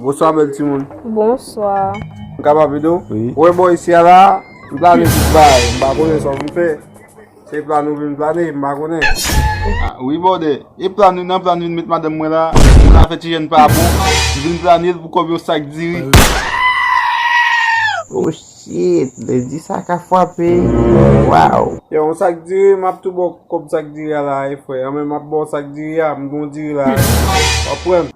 Bonswa bèl ti moun Bonswa Mwen ka pa vide ou? Wi Mwen bon isi a la Mwen pa vide ou Mwen pa vide ou Mwen pa vide ou Se plan ou vin plane, m pa konnen. Ah wi bòdè, e plan ou nan plan ou vin met madanm mwen la, pou nou fè ti jèn pa bon, m vin plane l pou kòb yon sak diri. Oh shit, lendi sa ka fwape, waww. Yo yon sak diri, m ap tou ba w kòb sak diri a la a e frè, anmè m ap ba w sak diri a, m gen yon diri la a, w ap pran l.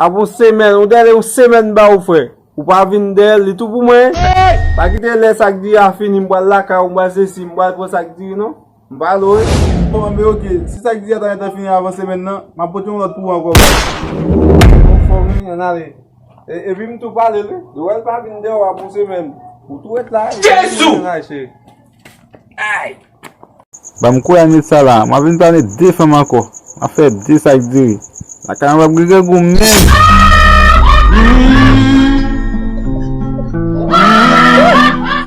Ap yon semèn, yon dèle yon semèn ba ou frè. Ou pa vin dèyèl li tou pou mwen. Pa kite lè sak diri a fini m pral lakay ou m pral sesi m pral pran sak diri non. M pa al woy. Bon men ok, si sak diri a ta gentan fini avan semèn nan, m ap pote yon lòt pou ou ankò baz. Bon fò wi, ann ale. Epi m tou pale l wi. Yo wè l pa vin dèyè ou ap yon semèn. Ou tou ret la. Jezuu! Ay! Banm kwe ane sa la, map vin pale de fanm anko, map fe de sak diri. Lakay mwen pap gen grangou menm.